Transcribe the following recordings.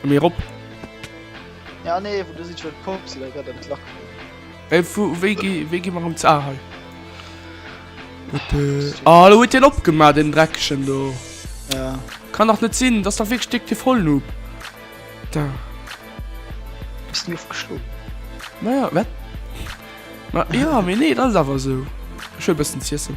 Komm hier op! Ja nee, wo du si schon kom si gëtt en Klack. Ey, wo, wéi gi, wéi gi mer um ze. Ah, hei. Ah, lo huet hien opgemaach, den Dreckchen do. Ja. Kann dach net sinn, dass da wierklech Dick de Vollnoob. Da. Bist du ofgeschloen? Naja, wat? Ma, ja, mir nee, dat ass awer sou. Ech hu e bëssen z'iessen.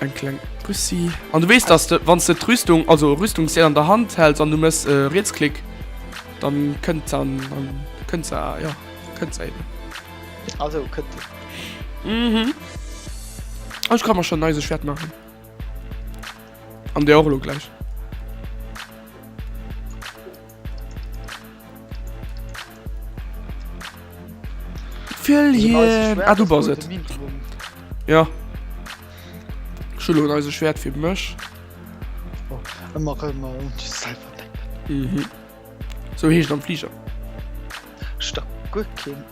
Eng kleng Pussy. An du wees, dass de wann de d'Rüstung, also Rüstungsdeel an der Hand häls an du mëss e Rietsklick, dann kënnt an dann kënnt se a jo kënnt se eben. Also kënnt se. Mhm. Oh ech ka mer schonn eise Schwert maachen. An dir och elo gläich. Fill hien. Ah, du bass et. Ja. Schullo un eise Schwert fir mech. Oh, ëmmer ëmmer un du selber denken. Mhm. So heescht am Flieger. Sta guer keen.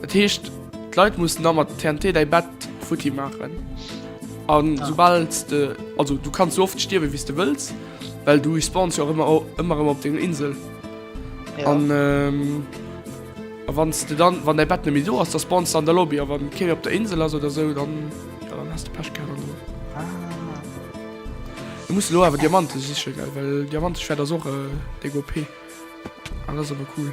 Dat heescht, d'Leit mussen da mat TNT däi Bett futti maachen. A soubal de, also du kanns sou oft stierwen, wéi s de wëlls, well du respawns jo och ëmmer, ëmmer erëm op denger Insel. An a wann s de dann, wann däi Bett net méi do ass, da spawns de an der Lobby. A wann kee méi op der Insel ass oder sou, dann, jo, dann has de Pech gehat. An du muss elo awer Diamante sichen, gell, well Diamante-Schwert ass och déck OP. An dat ass awer cool.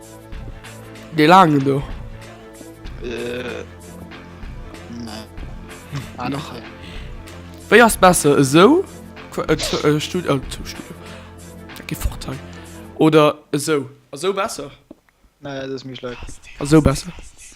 Dee laangen do? Äh, nee. Ah, nach hei. Wéi ass besser esou? Qu- äh, zu- äh, Stud- äh, zu Studio. Da geh fort hei. Oder esou? Esou besser? Nee, dat ass méi schlecht. Esou besser.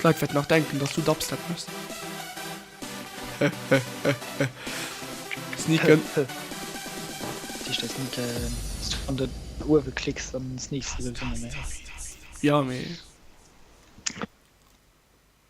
D'Leit wäerten nach denken dass du Dubstep méchs. Sneaken. Jo mee.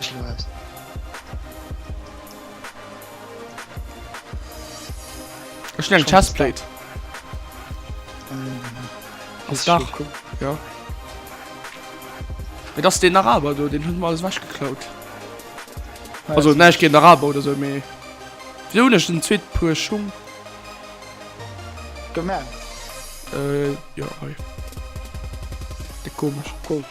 Ech lo aus. Ech hun eng Chestplate. Ass da cool. Ja. Mit ass den Araber do, den hun alles wech geklaut. Also ne ich gin Araber oder so méi. Wéi hun ech den zweet puer Schung? Gemerkt. Äh, ja, hei. De komisch. Cool.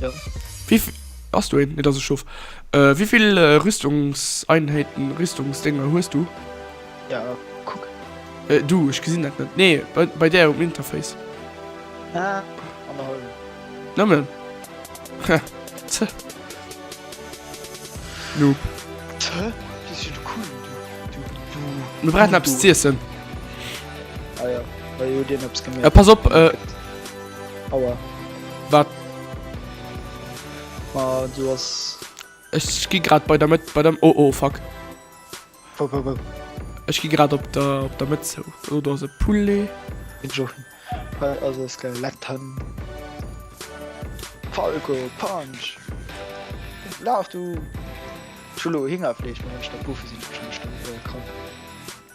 Jo. Wéi vi-. Ass do een? Nee, dat ass e Schof. Wéi vill Rüstungseinheiten, Rüstungsdénger hues du? Ja, kuck. Du, ech gesinn dat net. Nee, bei, bei där um Interface. Ah, annerhallwen. Nëmmen? Hä, ze. Noob. Ze? Bis jo de Kuchen, du, du, du. Mir brauchen eppes Noob, du. z'iessen. Ah jo, well jo deen eppes gemeet. Pass op, Aua. Wat? Ma, du ass. Ech gi grad bei der Mëtt, bei der. Oh, oh, fuck. Wou, wou, wou? Ech gi grad op der, op der Mëtt zou. Oh, do ass e Poulet. Den Jochen. Äh, Also es geil. Letten. Falco, Punch. Laf du. Chulo, Hingerfleesch, Mensch, der Buffe sinn schon bestimmt äh, krank.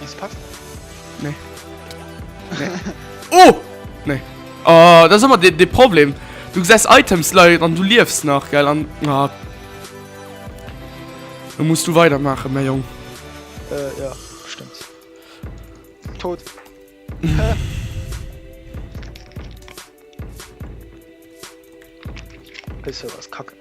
Nice Pack. Nee. Nee. oh! Nee. Oh, das ist immer der Problem. Du siehst Items leid und du liefst nach, gell? Und, na. Dann musst du weitermachen, mein Junge. Äh, ja, stimmt. Tot. Bisschen was kacke.